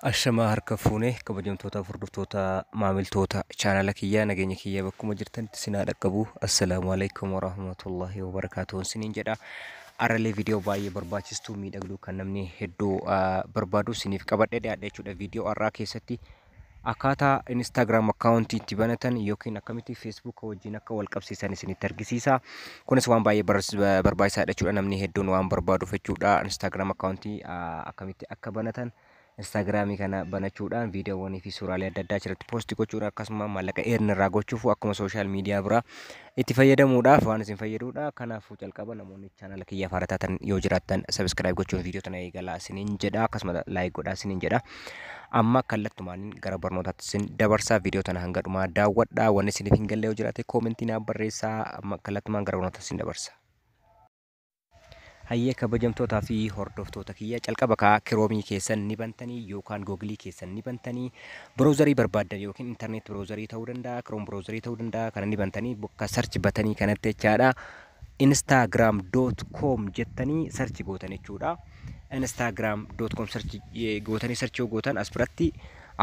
Ashamaa harka fuune kabajamtoota hordoftoota maamiltoota chaanala kiyyaa nageenya kiyyaa bakkuma jirtanitti sinaa dhaqqabu assalaamu alaikum warahmatullahi wabarakaatuun siniin jedha arralee viidiyoo baay'ee barbaachistuu miidhagduu kan namni hedduu barbaadu siniif qabadhee dhiyaadha jechuudha viidiyoo arraa keessatti Akkaataa Instagram account itti banatan yookiin akkamitti Facebook wajjin akka wal qabsiisan isinitti argisiisa. Kunis waan baay'ee bar- ba- barbaachisaadha jechuudha. Namni hedduun waan barbaaduuf jechuudha. Instagram account ah, akkamitti akka banatan Instagram kana banachuudhaan viidiyoowwanii fi suuraalee adda addaa achirratti posti gochuudhaan akkasuma maallaqa earn irraa gochuuf akkuma social media biraa itti fayyadamuudhaaf waan isin fayyaduudha. Kanaafuu calqaba namoonni chaanala kiyyaaf haara taatan yoo jiraattan sabiskiraayib gochuun viidiyoo tana eegalaa isiniin jedha akkasuma laayik godhaa isiniin jedha. Amma kallattumaan gara barnootaatti isin dabarsaa viidiyoo tana hanga dhumaa daawwadhaa wanni isiniif hin galle yoo jiraate koomentii naaf barreessaa amma kallattumaan gara barnootaatti isin dabarsa. Hayyee kabajamtoota fi hordoftoota kiyya calqaba kaa kiroomii keessan ni bantanii yookaan googilii keessan ni bantanii browserii barbaaddan yookiin internet browserii ta'uu danda'a kiroom browserii ta'uu danda'a kana ni bantanii bakka search batanii kanatti jechaadha instagram.com jettanii search gootan jechuudha instagram.com search eh, gootanii search yoo gootan as biratti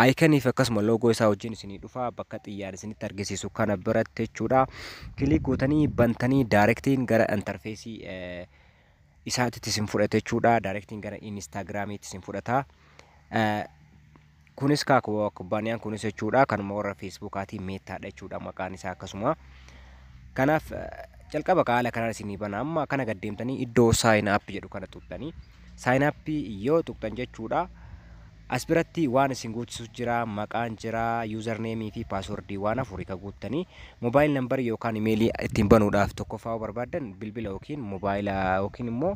Icon fi akkasuma logo isaa wajjin isinii dhufa bakka xiyyaara isinitti argisiisu kana biratti jechuudha. Kilik gootanii bantanii daarektiin gara interfeesii isaatitti isin fudhata jechuudha. Daarektiin gara Instagramiitti isin fudhata. Kunis kaa kubbaaniyaan kunis jechuudha kanuma warra Feesbuukaatiin meettaadha jechuudha maqaan isaa akkasuma. Kanaaf jalqaba haala kanaan isinii bana amma kana gad deemtanii iddoo sign up jedhu kana tuqxanii sign up yoo tuqxan jechuudha. As biratti waan isin guuchisu jira, maqaan jira, user name fi password waan afuri ka guuttani. Mobile number yookaan email ittiin banuudhaaf tokkoffaa yoo barbaaddan bilbila yookiin mobile yookiin immoo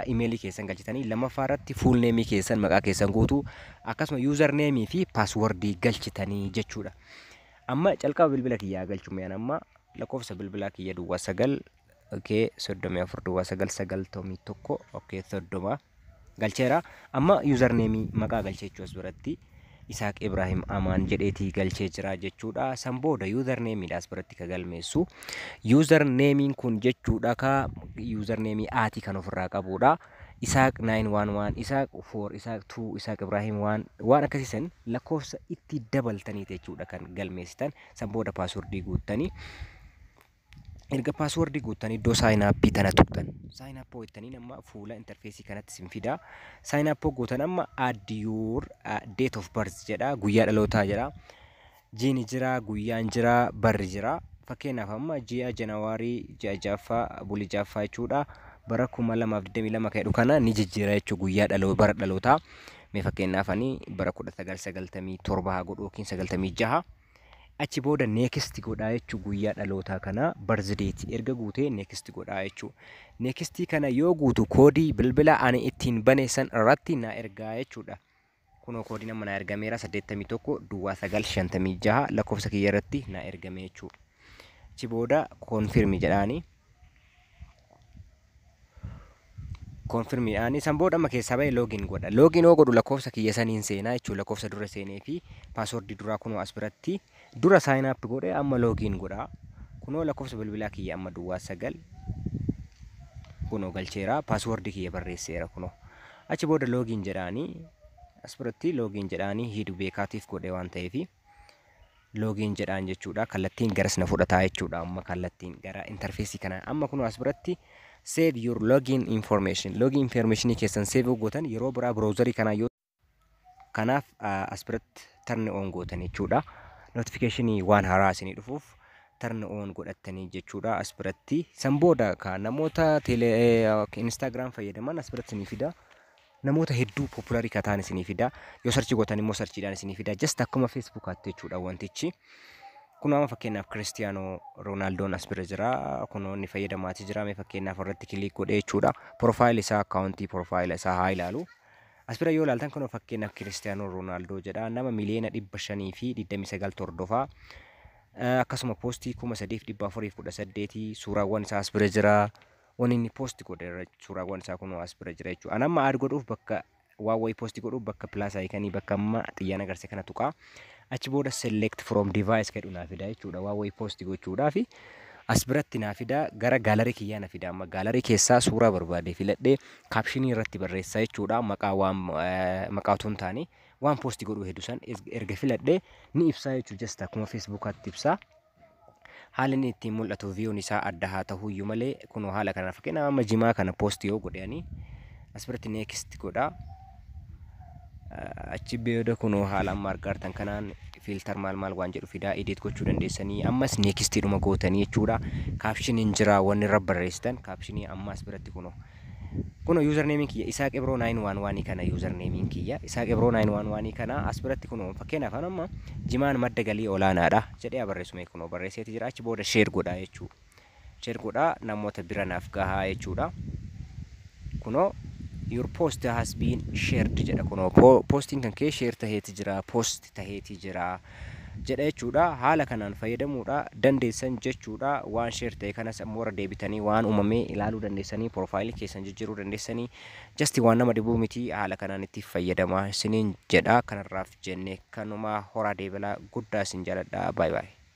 email keessan galchitanii lammaffaa irratti full name keessan maqaa keessan guutuu akkasuma user name fi password galchitanii jechuudha. Amma calqaba bilbila kiyyaa galchume an amma lakkoofsa bilbilaa kiyya duwwaa sagal okay soddomii afur duwwaa sagal sagaltomii tokko okay soddoma galcheera amma yuuzar neemii maqaa galchee jechuu as biratti isaaq ibraahim amaan jedheetii galchee jira jechuudha san booda yuuzar neemiidha as biratti ka galmeessu yuuzar neemiin kun jechuudha ka yuuzar neemii aatii kan ofirraa qabuudha isaaq 911 isaaq 4 isaaq 2 isaaq ibraahim waan waan akkasiisan lakkoofsa itti dabaltaniiti jechuudha kan galmeessitan san booda paaswordii guuttanii Erga paaswordii guuttan iddoo sign up tana tuqxan. Sign up jettaniin amma fuula interfeesii kanatti sin fida. Sign up gootan amma add your uh, date of birth jedha guyyaa dhalootaa jedha. Jiini jira, guyyaan jira, barri jira. Fakkeenyaaf amma ji'a Janawaarii ji'a ja'affaa bulii ja'affaa jechuudha. Bara 2022 kan jedhu kana ni jijjiira jechuudha guyyaa dhaloo bara dhalootaa. Mee fakkeenyaaf ani bara 1997 haa godhu yookiin 96. Achi booda next godhaa jechuun guyyaa dhalootaa kanaa birthday erga guutee next godhaa jechuun. Next kana yoo guutu koodii bilbila ani ittiin bane san irratti na ergaa jechuudha. Kunoo koodiin amma na ergameera 81 duwwaa 956 lakkoofsa kiyya irratti na ergame jechuudha. Achi booda confirm jedhaani. Confirm ani san booda amma keessaa ba'e login godha. Login yoo godhu lakkoofsa kiyya saniin seenaa jechuun lakkoofsa dura seenee fi paaswordii duraa kunoo as biratti dura sign up godhe amma login godha. Kunoo lakkoofsa bilbilaa kiyya amma duwwaa sagal kunoo galcheera paaswordii kiyya barreesseera kunoo. Achi booda login jedhaanii as biratti login jedhaanii hiidu beekaatiif godhe waan ta'eefi. loogiin jedhaan jechuudha kallattiin garas na fudhataa jechuudha amma kallattiin gara interfeesii kana amma kun as biratti save your login information login information keessan save gootan yeroo biraa browserii kanaa yoo kanaaf as biratti tarni on gootan jechuudha notification waan haaraa isinii dhufuuf tarni on godhattanii jechuudha as biratti san booda ka namoota tele instagram fayyadaman as biratti ni fida Namoota hedduu popularii ka ta'an isinii fida. Yoo sarchii gootan immoo sarchiidhaan isinii fida. Just akkuma Facebook hattu jechuudha wantichi. Kun amma fakkeenyaaf Kiristiyaanoo Roonaaldoon as bira jira. Kunoo inni fayyadamaatii jira. Mee fakkeenyaaf irratti kiliik godhee jechuudha. Porofaayil isaa akkaawuntii porofaayila isaa haa ilaalu. As bira yoo ilaaltan kunoo fakkeenyaaf Kiristiyaanoo Roonaaldoo jedha. Nama miliyoona dhibba shanii fi digdamii sagal tordofaa. Akkasuma poostii kuma sadiif dhibba afuriif kudha saddeetii suuraawwan isaa as bira jira. Waan inni post godhe irra suuraawwan isaa kunoo as bira jira jechuudha. An amma aad godhuuf bakka waan wayii post godhuuf bakka plus icon bakka amma xiyyaan agarsiise kana tuqaa. Achi booda select from device jedhu naa fidaa jechuudha. Waan wayii post gochuudhaaf as biratti naa fidaa gara gaalarii kiyyaa na fidaa. Amma gaalarii keessaa suuraa barbaade filadhee kaapshinii irratti barreessaa jechuudha. Maqaa waan eh, maqaa otoo hin taane waan post godhuu hedduu san erga filadhee ni ibsaa jechuudha. Just akkuma feesbuukaatti ibsaa. Haalli inni ittiin mul'atu viyuun isaa adda haa tahuyyuu malee kunoo haala kanaan fakkeenyaaf amma jimaa kana poosti yoo godhe ani asirratti neekist godha. Achi booda kunoo haala amma argaa jirtan kanaan fiiltar maal maal waan jedhu fidaa edit gochuu dandeessanii ammas neekistiidhuma gootanii jechuudha. Kaapshiniin jira wanni irra barreessitan kaapshinii amma asirratti kunoo. Kunoo user name kiyya isaaq ibroo 911 kana user name kiyya isaaq ibroo 911 kana as biratti kunoo fakkeenyaaf an amma jimaan madda galii olaanaadha jedhee haa barreessu mee kunoo barreesseeti jira achi booda share godhaa jechuu share godhaa namoota bira naaf gahaa jechuudha kunoo your post has been shared jedha kunoo po- postiin kan kee share taheeti jira post taheeti jira jedha jechuudha haala kanaan fayyadamuudha dandeessan jechuudha waan share ta'e kanas ammoo irra deebitanii waan uumame ilaaluu dandeessanii profile keessan jijjiiruu dandeessanii just waan nama dhibuu miti haala kanaan itti fayyadama isiniin jedha kanarraaf jenne kanuma horaa deebela guddaa isin jaaladha baay baay